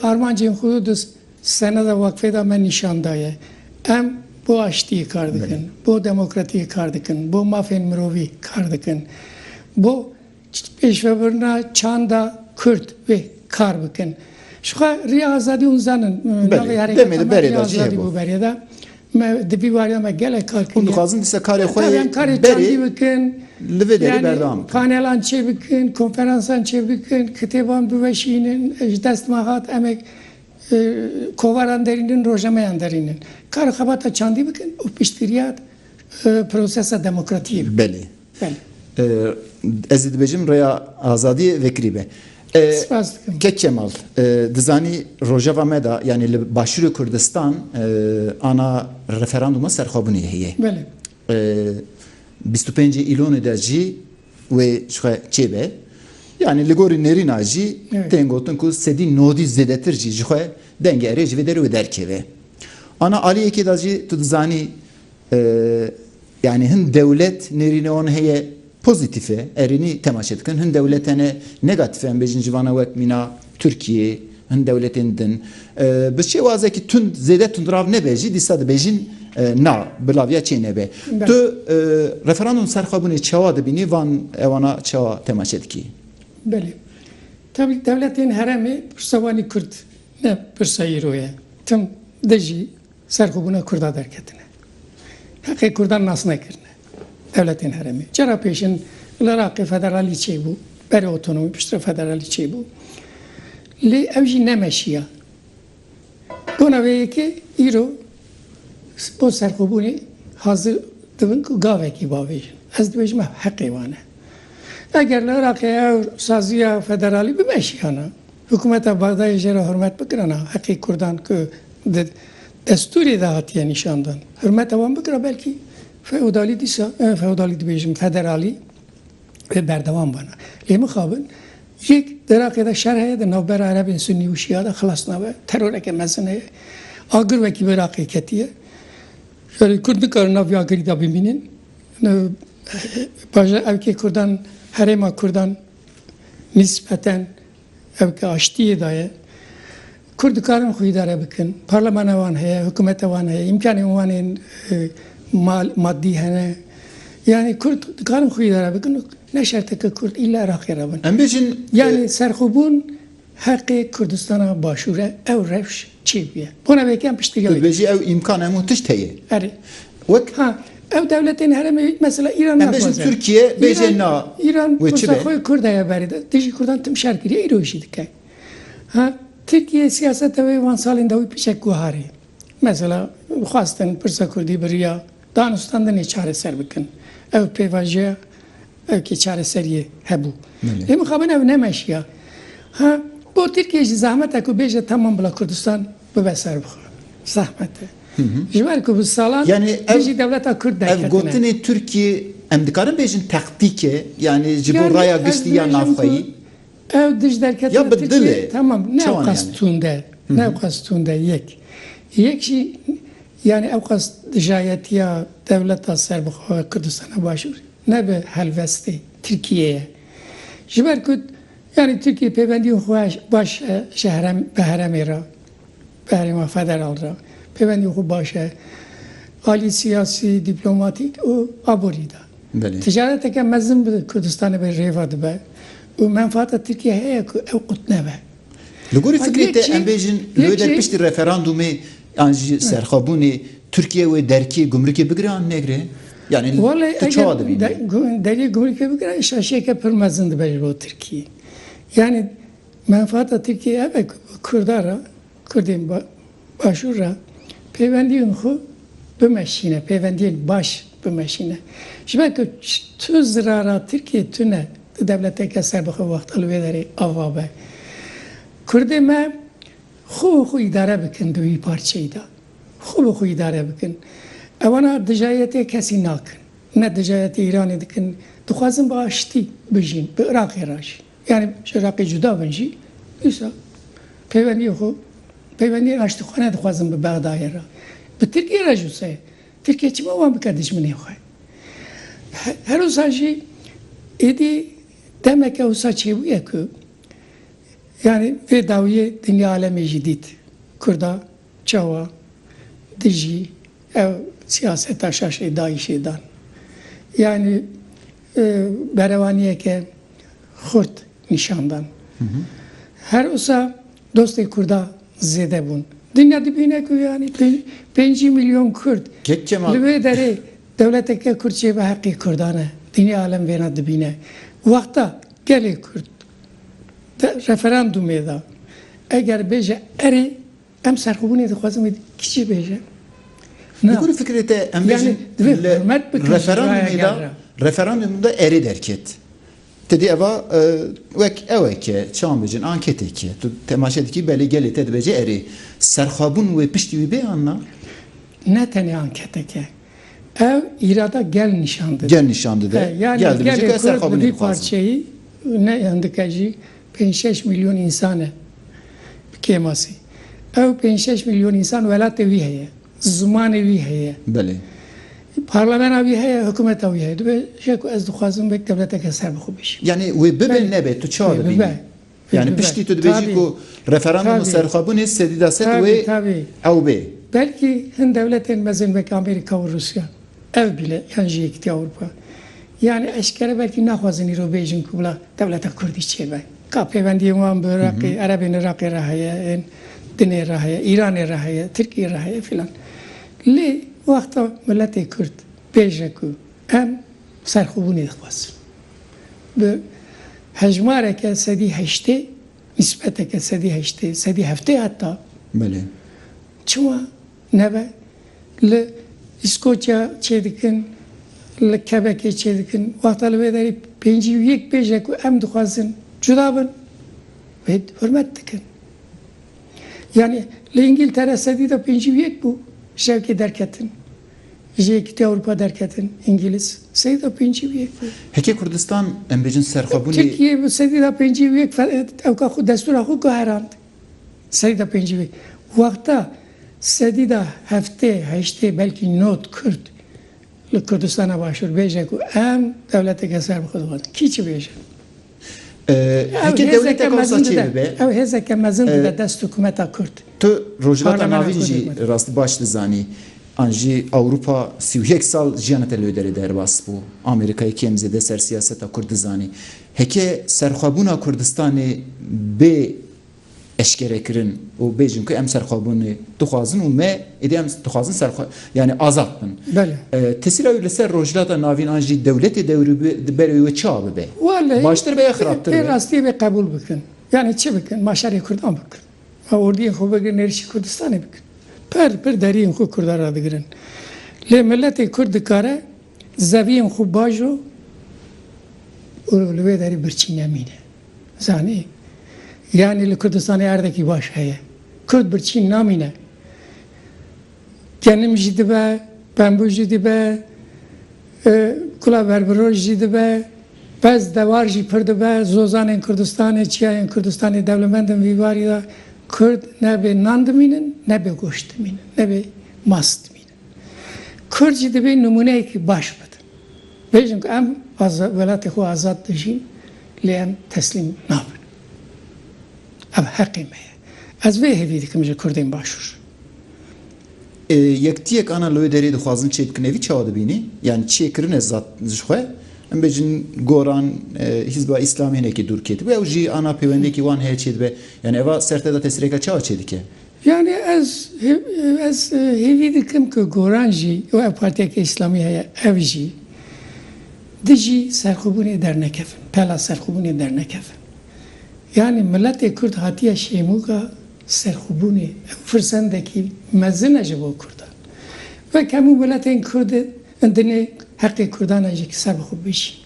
armancên xwe di seneda weqfê de me nîşan daye. Em bo aştiyê kar dikin, bo demokratiyê kar dikin, bo mafên mirovî kar dikin, bo pêşvebirina çanda Kurd wê kar bikin. Jixwe Rêya Azadî hûn zanin navê hereketa me Rêya Azadî bû berê de. Me di vî wariya me gelek kar kiriye. Hûn dixwazin dîsa karê xwe yê karê çandî bikin. Li vê derî berdewam bikin. Panelan çê bikin, konferansan çê bikin, kitêban biweşînin, ji dest me hat em ê kovaran derînin, rojnameyan derînin. Kara xebata çandî bikin û piştgiriya prosesa demokratiyê bikin. Belê. Ez ê dibêjim rêya azadiyê vekirî be. Spas dikim. Kek Kemal, dizanî rojeva me de yanî li Başûrê Kurdistan ana referandûma serxwebûnê heye. Belê. Bîst û pêncê Îlonê de jî wê ji xwe çêbe. Yanî li gorî nêrîna jî tên gotin ku sedî nodî zêdetir jî ji xwe dengê erê ji vê derê wê derkeve. Ana aliyekê de jî tu dizanî Yani hin dewlet nêrîne wan heye pozîtîf e, erênî temaşe dikin. Hin dewlet hene negatif e, em bêjin ji vana wek mîna Tirkiyê, hin dewletên din. Bi şêwazekî tund zêde tundrav nebe jî dîsa dibêjin na bi laviya çê nebe. Tu referandum ser xwe bûnê çawa dibînî van ewana çawa temaşe dikî? Belê. Tabi dewletên heremê pirsa wan ê kurd ne pirsa îro ye. Tim de jî Ser xwe bûna Kurda derketine. Heqê Kurdan nas nekirine. Dewletên heremê. Cara pêşin li Iraqê federalîçeyê bû. Berê otonomî piştre federalîçeyê bû. Lê ew jî nemeşiya. Bona vê yekê îro bo serxwebûnê hazir dibin ku gavekî bavêjin. Ez dibêjim ev heqê wan e. Eger li Iraqê ew saziya federalî bimeşiyana. Hikûmeta Bexdayê jê re hurmet bikirina heqê Kurdan ku di destûrê de hatiye nîşandan, hurmeta wan bikira belkî feodalî dîsa, feodalî dibêjim federalî wê berdewam bana. Lê mixabin yek di Iraqê de şer heye, di navbera Erebên Sunnî û Şîa de xilas nabe, teroreke mezin heye. Agir wekî bi Iraqê ketiye. Jarê Kurd nikarin nav vê agirî de bimînin. Bajar evkê Kurdan, herêma Kurdan Nisbeten ev ke aştiyê da ye. Kurd dikarin xwe îdare bikin. Parlemana wan heye, hikûmeta wan heye, îmkanên wan ên maddî hene. Yanî kurd dikarin xwe îdare bikin û ne şerteke kurd îlla Iraqê re bin. Em bêjin. Yanî serxwebûn. Heqê Kurdistana Başûr e ew rewş çêbûye. Bona vê yekê em piştgirîya wê dikin. Tu dibêjî ew îmkan hemû tişt heye. Erê. Wek. Ha, ew dewletên herêmê mesela Îran naxwaze. Em bêjin Tirkiye bêje na. Îran pirsa xwe Kurd heye berê de. Dijî Kurdan tim şer kiriye îro jî dike. Ha, Tirkiye siyaseta wê wan salên dawî piçek guhar ê. Mesela xwestin pirsa Kurdî bi riya danûstandinê çareser bikin. Ew pêvajoya Belkî çareseriyê hebû. Lê mixabin ew nemeşiya. Ha bo Tirkiyeyê jî zehmet e ku bêje tamam bila Kurdistan bibe serbixwe. Zehmet e. Ji ber ku bi salan dijî dewleta Kurd derketine. Ev gotinê Tirkiyê em dikarin bêjin tektîk e? Yanî ji bo raya giştî ya navxweyî? Ew dij derketina Tirkiyê tamam ne ew qas tund e. Ne ew qas tund e yek. Yek jî yanî ew qas dijayetiya dewleta serbixwe Kurdistana Başûrê. ne bi helvestê Tirkiyê ye. Ji ber ku yanî Tirkiye pêbendiyên xwe baş e ji herem bi heremê re, bi herêma federal re pêbendiyên xwe baş e alî siyasî, dîplomatîk û aborî de. Ticareteke mezin bi Kurdistanê bi rêve dibe û menfaata Tirkiyê heye ku ew qut nebe. Li gorî fikrê te em bêjin li der piştî referandûmê yan jî serxwebûnê Tirkiye wê derkê gumrikê bigire yan negire? Yani tu çawa dibînî? Derê gumrikê bigire şaşiyeke pir mezin dibe ji bo Tirkiyê. Yani menfaata Tirkiyê ev e ku Kurda re, Kurdên Başûr re pêwendiyên xwe bimeşîne, pêwendiyên baş bimeşîne. Ji ber ku tu zirara Tirkiyê tune, tu dewleteke serbixwe wexta li wê derê ava be. Kurdê me xwe bi xwe îdare bikin di wî parçeyî de. Xwe bi xwe îdare bikin. Ewana dijayetê kesî nakin. Ne dijayetê Îranê dikin. Dixwazin bi aştî bijîn, bi Iraqê re jî. Yanî ji Iraqê cuda bin jî dîsa peywendiyê xwe peywendiyên aştîxane dixwazin bi Bexdayê re. Bi Tirkiyê re jî wisa ye. Tirkiye çima wan bike dijminê xwe? Her wisa jî êdî demeke wisa çêbûye ku yanî vê dawiyê dinya alemê jî dît. Kurda çawa dijî Ew siyaseta şaşê dayîşê dan. Yanî berevaniyeke xurt nîşan dan. Her wisa dostê kurda zêde bûn. Dinya dibîne ku yanî pêncî milyon kurd li wê derê dewleteke kurd çê bi heqê kurdan e. Dinya alem vêna dibîne. Wexta gelê kurd di referandûmê de eger bêje erê, Em serxwebûnê dixwazin wê kişî bêjin. Li gorî fikirê te em bêjin referandumê de referandumê de erê derket. Te dî eva wek ew e ke çawan bêjin anketeke tu temaşe dikî belê gelê te dibêje erê. Serxwebûn wê piştî wî bê an na? Ne tenê anketeke. Ew îrada gel nîşan dide. Gel nîşan dide. Gel dibêje ke ez serxwebûnê dixwazim. Parçeyî ne dike jî Pênc şeş milyon însan e bi kêmasî. Ew pênc şeş milyon însan welatê wî heye, zimanê wî heye. Belê. Parlamena wî heye, hikûmeta wî heye. Dibe ya ku ez dixwazim wek dewleteke ser bi xwe bêjim. Yanî wê bibe nebe tu çawa dibînî? Yanî piştî tu dibêjî ku referandum û serxwebûnê sedî da sed wê ew bê. Belkî hin dewletên mezin wek Amerîka û Rûsya Ev bile yan ji Yekîtiya Ewropa. Yanî eşkere belkî naxwazin îro bêjin ku bila dewleta kurdî çêbe. Ka pêwendiyên wan bi Iraqê, Erebên Iraqê re heye, ên dinê re heye, Îranê re heye, Tirkiyê re heye filan. Lê wexta miletê kurd bêje ku em serxwebûnê dixwazin. Bi hejmareke sedî heştê, nîsbeteke sedî heştê, sedî heftê heta. Belê. Çima Nebe li Îskoçya çêdikin, li Kebekê çêdikin, wexta li vê derê pêncî û yek bêje ku em dixwazin cuda bin, wê hurmet dikin. Yanî li Îngîltere sedî da pêncî û yek bû ji yekê derketin, ji Yekîtiya Ewropa derketin Îngîliz, sedî da pêncî û yek bû. Heke Kurdistan em bêjin serxwebûnê. Tirkiyê sedî da pêncî û yek ew ka xwe destûra xwe guherand. Seyda pêncî vê wexta sedî da heftê, heştê belkî not Kurd li Kurdistana Başûr bêje ku em dewleteke ser bi xwe dixwazin. Kî çi bêje? Ew hêzeke mezin dide. Ew hêzeke mezin dide dest hikûmeta Kurd. Tu Rojhilata Navîn jî rastî baş dizanî. An jî Ewropa sî û yek sal jiyana te li wê derê derbas bû. Amerîkayê kêm zêde ser siyaseta Kurd dizanî. Heke serxwebûna Kurdistanê bê eşkerekirin û bêjin ku em serxwebûnê dixwazin û me êdî em dixwazin serxwe yanî azad bin. Tesîra wî li ser Rojhilata Navîn an jî dewletê dewrûberê wê çi a bibe? Baştir be ya xirabtir be? Welleh pê rastiyê bê qebûl bikin. Yanî çi bikin? Ma şerê Kurdan bikin. Ma ordiyên xwe bigirin êrişî Kurdistanê bikin. Pir pir deriyên xwe Kurdan radigirin. Lê miletê Kurd dikare. Zeviyên xwe baş o û li wê derê birçî nemîne. Zanî? Yanî li Kurdistanê erdekî baş heye. Kurd birçî namîne. Genim jî dibe, pembû jî dibe, kula berbiroş jî dibe, pez dewar jî pir dibe, zozanên Kurdistanê, çiyayên Kurdistanê dewlemend in vî barî de. Kurd ne bê nan dimînin, ne bê goşt dimînin, ne bê mast dimînin. Kurd jî divê nimûneyekî baş bidin. Bêjin ku em welatê xwe azad dijîn lê em teslîm nabin. Ev heqê me ye. Ez vê hêvî dikim ji kurdên başûr. Yektiyek ana li wê derê dixwazin çê bikin evî çawa dibînî? Yanî çê kirine zad ji xwe. Em bêjin goran hîzba îslamî hinekî dûr ketibû ew jî ana pêwendiyekî wan heye çê dibe. Yanî eva serteda tesîreke çawa çê dike? Yanî ez ez hêvî dikim ku Goran jî û ev partiyeke îslamî heye ev jî dijî serxwebûnê dernekevin, pela serxwebûnê dernekevin. Yanî miletê kurd hatiye şêmûka serxwebûnê. Ew firsendekî mezin e ji bo kurdan. Wek hemû miletên kurd in dinê heqê kurdan e jî ki ser bi xwe bijîn.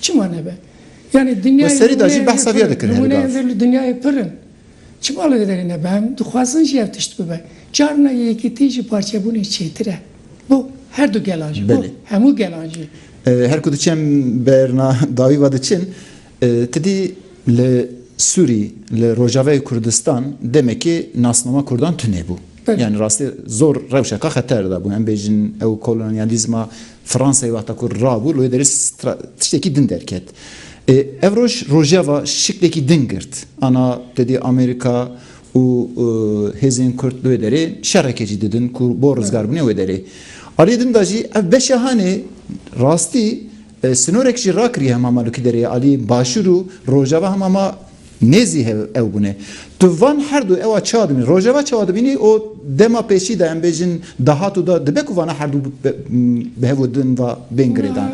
Çima nebe? Yanî dinyayê Li serî de jî behsa vê ya dikin herî bav. Nimûneyên vê li dinyayê pir in. Çima li vê derê nebe? Em dixwazin jî ev tişt bibe. Carina yekitî ji parçebûnê çêtir e. Bo her du gelan jî, bo hemû gelan jî. Her ku diçe em berna dawî ve diçin, tu dî li Sûrî, li Rojavayê Kurdistan demekê nasnama kurdan tune bû. Belê yanî rastî zor rewşeke xeter de bû. Em bêjin ew kolonyalîzma Fransayê wexta ku rabû li wê derê tiştekî din derket. Ê ev roj rojeva şiklekî din girt. Ana tedê Amerîka û hêzên Kurd li wê derê şereke jî didin ku bo rizgarbûnê wê derê. Aliyê din de jî ev beşa hanê rastî sinorek jî rakiriye hema malokî derê aliyê başûr û rojava hema ma Nê zî hev ew bûne. Tu van her du ewa çawa dibînî? Rojeva çawa dibînî û dema pêşî de em bêjin dahat û da dibe ku vana her du bi hev û din va bên girêdan?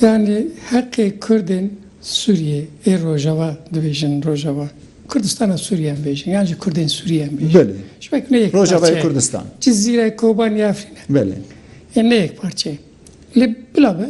Yanî heqê Kurdên Sûriyê ê Rojava dibêjin Rojava Kurdistana Sûriyê em bêjin yan jî Kurdên Sûriyê em bêjin. Belê. Ji ber ku ne yek Rojavayê parçe ye. Kurdistan. Cizîre, Kobanî, Efrîn e. Belê. Ê ne yek parçe ye. Lê bila be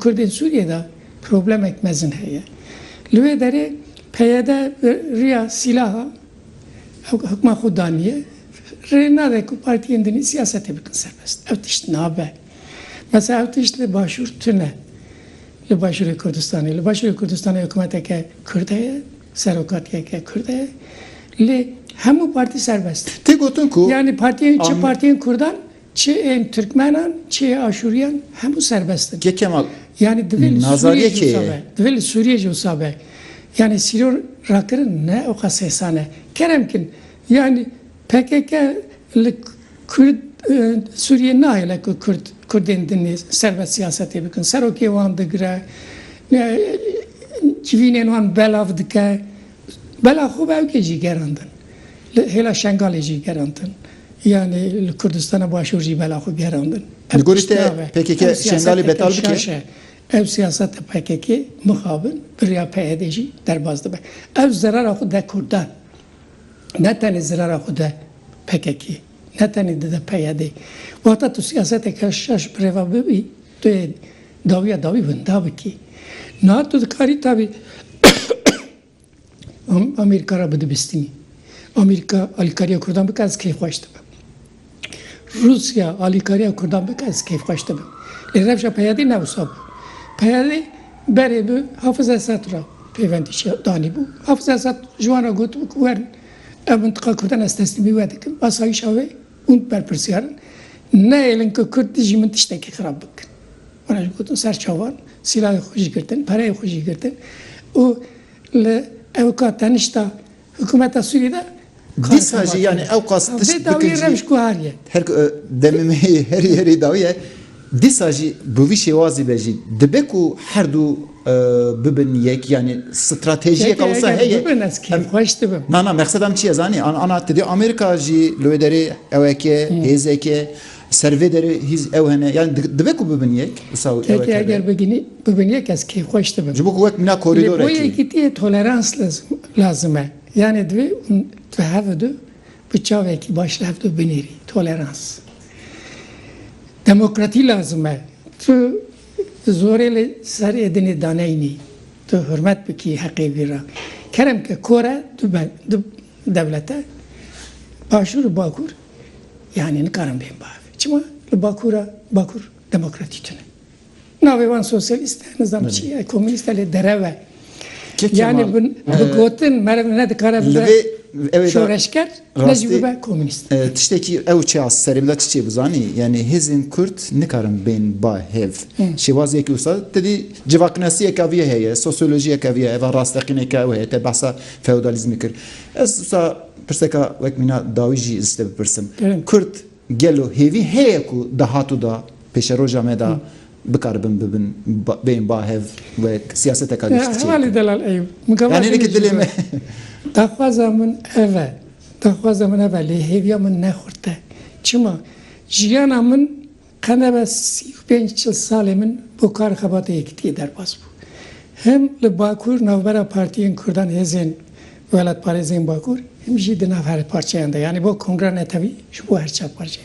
Kurdên Sûriyê de problemek mezin heye. Li wê derê PYD riya sîlaha hikma xwe daniye, rê nade ku partiyên din siyasetê bikin serbest. Ev tişt nabe. Mesela ev tişt li Başûr tune. Li Başûrê Kurdistanê. Li Başûrê Kurdistanê hikûmeteke Kurd heye, serokatiyeke Kurd heye. Lê hemû partî serbest in. Tê gotin ku. Yanî partiyên çi partiyên Kurdan Çi ên Tirkmenan, çi yê Aşûriyan hemû serbest in. Kê Kemal Yanî divê li Nazariyê Sûriyê jî kê wisa ye? be. Divê li Sûriyê jî wisa be. Yanî sîror rakirin ne oqas hêsan e. Kerem kin. Yanî pkk li Kurd Sûriyê nahêle ku Kurd Kurdên din ê serbest siyasetê bikin. Serokê wan digire. Civînên wan belav dike. Bela xwe bi ewkê jî gerandin. Li hêla Şengalê jî gerandin. Yanî li Kurdistana Başûr jî bela xwe gerandin. Li gorî te pkk Şengalê betal bike? Ev siyaseta pkk mixabin bi riya PYD'ê jî derbas dibe. Ev zerara xwe de Kurdan. Ne tenê zerara xwe de pkk-ê. Ne tenê dide PYD'ê. Wata tu siyaseteke şaş bi reva bibî tu yê dawiya dawî winda bikî. Niha tu dikarî tevî Em Amerîka re bidibistinî. Amerîka alîkariya kurdan bike ez keyfxweş dibim. Rûsya alîkariya kurdan bike ez keyfxweş dibim. Lê rewşa peyadê ne wisa bû. Peyadê berê bi Hafiz Esed re pêvendî danîbû. Hafiz Esed ji wan re gotibû ku werin ev mintiqa kurdan ez teslîmî we dikim. Asayîşa wê. Hûn berpirsyar in. Neyêlin ku Kurd dijî min tiştekî xirab bikin. Wan jî gotin ser çavan, sîlahê xwe jî girtin, pereyê xwe jî girtin û li ewka tenişta hikûmeta Sûriyê de Dîsa jî yanî ewqas tişt bikin jî. Vê dawiyê rewş guhariye. Her ku demê me yê herî herî dawî ye. Dîsa jî bi vî şêwazî ve jî dibe ku her du bibin yek yanî stratejiyeka wisa heye. Peki eger bibin ez kêfxweş dibim. Na na mexseda min çi ye zanî? Ana ti dê Amerîka jî li wê derê eweke, hêzeke, ser vê derê hîz ew hene yanî dibe ku bibin yek wisa ew eweke be. Peki eger bibin yek ez kêfxweş dibim. Ji bo ku wek mîna korîdor e kî. Lê bo yekîtiyê tolerans lazim e. Yanî divê hûn di hev du Bi çavekî baş li hev du binêrî, tolerans. Demokratî lazim e. Tu di zorê li ser êdinê daneynî. Tu hurmet bikî heqê wî re. Kerem ke kor e du be, du dewlet e. Başûr û Bakûr yanî nikarin bên bi hev. Çima? Li Bakûr re, Bakûr demokratî tune. Navê wan sosyalîst e, nizam çi ye, komînîst e lê derew e. Yanî bi gotin meriv ne dikare bibe şoreşker, ne jî bibe komînîst. Tiştekî ew çiya serê bila çi çê bi zanî, yanî hêzên Kurd nikarin bên ba hêv. Şêwaziyekî wisa ti dî civaknasiyeke vî heye, sosyolojiyeke vî heye, va rasteqîneke ew heye, te behsa feodalîzmê kir. Ez wisa pirseka wek mîna dawî jî ez ji te bipirsim. Kurd. Gelo hêvî heye ku dahat û da pêşeroja me de bikaribin bibin bên bahev û siyaseteka giştî çêbikin? Hevalê Delal Eyûb, min gava jî nêdît dilê me. Daxwaza min ev e, daxwaza min ev e lê hêviya min ne xurt e. Çima? Jiyana min qe nebe sî û pênc çil salê min bo kar û xebatê yekitiyê derbas bû. Him li Bakur navbera partiyên kurdan hêzên Welatparêzên Bakur him jî di nav herêparçeyan de yanî bo kongra ne tevî ji bo her çar parçe.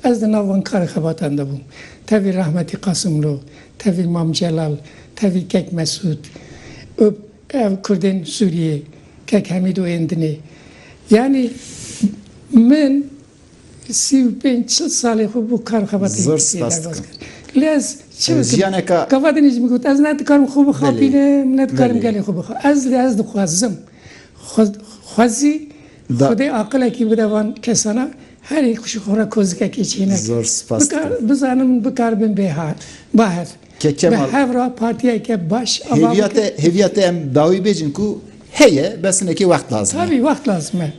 Ez di nav van karê xebatan de bûm. Tevî rahmetî Qasimlo, tevî Mam Celal, tevî kek Mesûd û ev kurdên Sûriyê, kek Hemîd û ên dinê. Yanî min Sî û pênc çil salê xwe bo kar û xebatên Zor Tirkiyeyê spas derbas dikim. kir. Lê ez çi bikim? Jiyaneka Gavatên jî min got ez ne dikarim xwe bixa Belê, pîlim, ne dikarim belê. gelê xwe bixa. Ez lê ez dixwazim. Xwe xwezî Da- Xwedê aqilekî bide van kesana, herî xwe ra kozikekê çêneke. Zor spas Bikar dikim. bizanim bikar bim bêhar, bahir. Bi hev re partiyeke baş ava bikin. Hêviya te, hêviya te em dawî bêjin ku heye, bes hinekê wext lazim e. Tabî wext lazim e.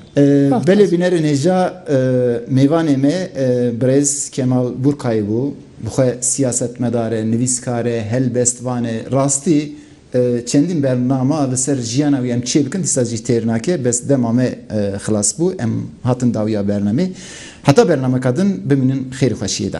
Belê bînerên hêja mêvanê me birêz Kemal Burkayî bû. Bi xwe siyasetmedar e, nivîskar e, helbestvan e. Rastî çendîn bernama li ser jiyana wî em çê bikin dîsa jî têr nake. Bes dema me xilas bû em hatin dawîya bernamê. Heta bernameka din bimînin xêrî xweşiyê de.